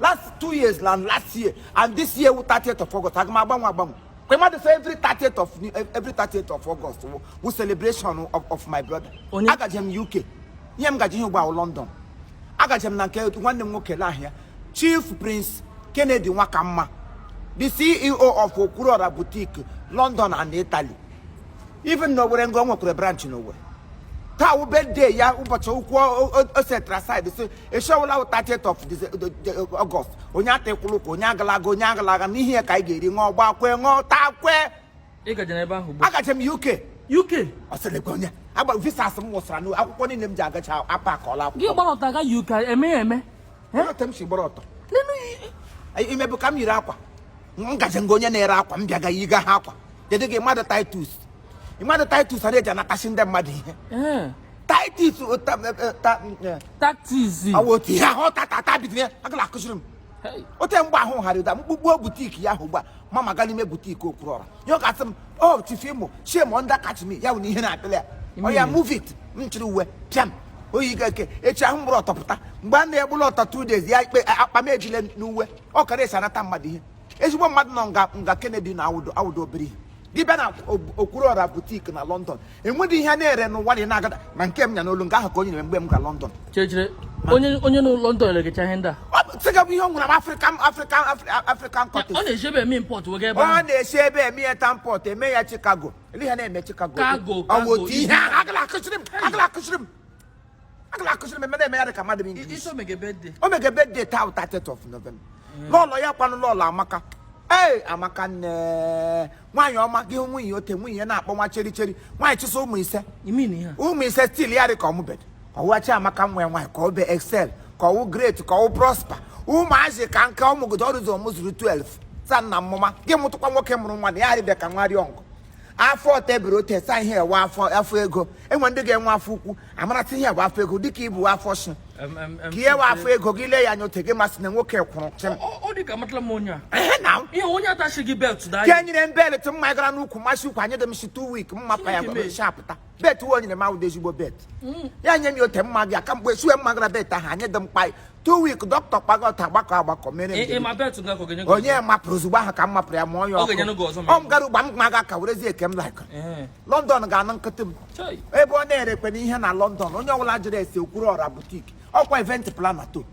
last two years na last year and this year wụ 30th of August aga m agbanwe agbanwe kwa mmadụ sị every 30th of every 30th of August wụ wụ celebration of, of my brother Onye- agaje m UK ihe m gaji ihe ugbu a wụ London agaje m na nke nwanne m nwoke n'ahịa Chief Prince Kennedy Nwakamma the CEO of Okwuruọra Boutique London and Italy even na Owere nga o nwekwara branch na Owere taa wụ birthday ya ụbọchị ukwu o setara aside sị eshi ọwụla wụ 30th of Dece- de- de- August onye atakwụrụ ụkwụ onye agalaga onye agalaga n'ihi ya ka anyị ga-eri ṅụọ gbaa kwee ṅụọ taa kwee ị gajere ebe ahụ ugbu agaje m UK UK ọ sịrị gị onye agba visas m wụsara n'akwụkwọ niile m ji agacha apakọla akwụkwọ gị gbara ọtọ ga UK eme ya eme ote m si gbara ọtọ imebụ ka m yiri akwa m gaje nga onye na-ere akwa m bịaga yiga ha akwa dede gị mmadụ titus imagine titus a na-eji anatachi ndị mmadụ ihe titus tactics ọ wụ otu ihe ahụ tatata bidoro ya agala akụziri m ote mgbe ahụ ghara ụda m kpukpuo boutique ya ahụ ugbu a m magaa n'ime boutique Okwuruọra ya ọ ga-asị m o Chief Imo shame na-akachi m ya bụ na ihe na-apịla ya oya move it m chịrị uwe pịam oyi gake echi ahụ m gbara ọtọ pụta mgbe a na-egbula ọtọ two days ya ikpe akpa m ejile n'uwe ọ kara esi anata mmadụ ihe ezigbo mmadụ nọ nga nga Kennedy na awụdị awụdị obere ihe dị be ya na Okwuruọra boutique na London enweghị ihe na-ere n'ụwa na na-agada ma nke m nya n'olu nga ahụ ka o nyere m mgbe m ga London onye onye nọ London eregecha ihe ndị a sịga bụ ihe ọ nwere African African African cottage ọ na-esi ebe eme import wega ebe ọ na-esi ebe eme ya tamport eme ya Chicago Ele ha na-eme Chicago. Cargo, Ọ cargo. otu ihe ahụ agala akụziri m agala akụziri m agala akụziri m eme na-eme ya dị ka mmadụ ma English. Ị sị o mege birthday. O mege birthday taa 30th of November. Lọlọ ya kwanụ lọlọ Amaka. Ee Amaka nne nwaanyị ọma gị hụ nwunye ote nwunye ya na-akpọ nwa cheri cheri nwaanyị chịsa ụmụ ise You mean ihe a? ụmụ ise still ya dị ka ọ mụbedị ọ wụ Chiamaka nwa ya nwaanyị ka ọ bụ Excel ka ọ wụ Great ka ọ wụ Prosper ụmụazị ka nke ọ mụgodo ọrụzọ m zuru 12 sa nna mmụma gị mụtụkwa nwoke mụrụ nwa na ya arịbịa ka nwa rịọ nkụ afọ tebụl ote sa ihe ewe afọ afọ ego enwe ndị ga-enwe afọ ukwu amarasị ihe bụ afọ ego dịka ibu afọ shi ka ihe bụ afọ ego gị lee ya anya ote gị masị na nwoke kwụrụ chịm ka enyere m belt m magara n'ukwu masị ukwu anyị dị m shi 2 weeks mma pa ya gwara m shi apụta belt uwe o nyere m awụdị ezigbo belt ya nye m ya ote m magaa ka mgbe sue m magara belt ahụ anyị dị m kpa two weeks dọkịta kpaga ọta agbakọ agbakọ mere m Ị- ị njem. ma belt nga ka ọ ga-enye gị onye ọzọ? mapụrụ ozugbo ahụ ka m mapụrụ ya ma onye Ọ ga-enye gị ọzọ ma ọ m gara ụgba m ma ga ka werezie nke m like Ee. London ga-anụ nkịtị m Chai. ebe ọ na-erekwenụ ihe na London onye ọbụla jụrụ ese Okwuruọra boutique ọ kwa event planner too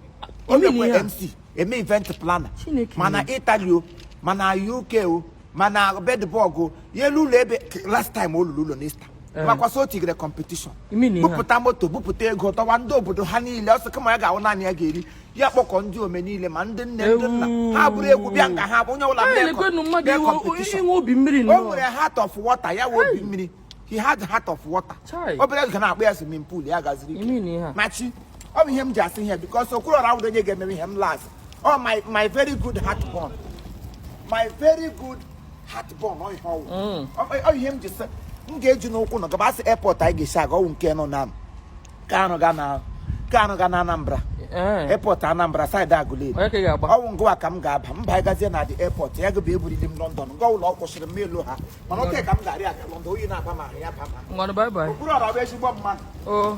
Ime na ihe onye a. MC eme event planner Chineke ma na Italy o ma na UK o mana bedbọgụ ya elu ụlọ ebe last time ọ lọrọ ụlọ n'ista eh. makwa sị o tigere kọmpetishọn bupụta moto bupụta ego tọwa ndị obodo ha niile ọsọ kama ya ga-awụ naanị ya ga-eri ya kpọkọ ndị ome niile ma ndị nne ndị nna ha buru egwu bịa nga ha onye ọbụla bịa kọmpetishọn o nwere heart of water ya wụ obi mmiri he had heart of water Chai. obere ga na-akpọ ya swimming pool ya gaziri ike. Imi na ihe a. machi ọ bụ ihe m ji asị ihe because Okwuru ọra awụdo onye ga-emere ihe m last ọ my my very good heart born my very good heart born ọ ihe ọ wụ Mm. Ọ- ọ ihe m ji sị m ga-eji n'ụkwụ nọ gaba a sị airport anyị ga-esi aga ọ wụ nke nọ na m Kanu ga na Kanu ga na Anambra eh. airport Anambra side Aguleri ọ wụ ngụwa ka m ga-aba m bagazie na the airport ya gụbụ eburili m London ga ụlọ ọ kwụsịrị m elu ha mana oke ka m ga-arị aga London oyi na-aba m ahụ ya ba ma Okwuru ọra bụ ezigbo mma oh.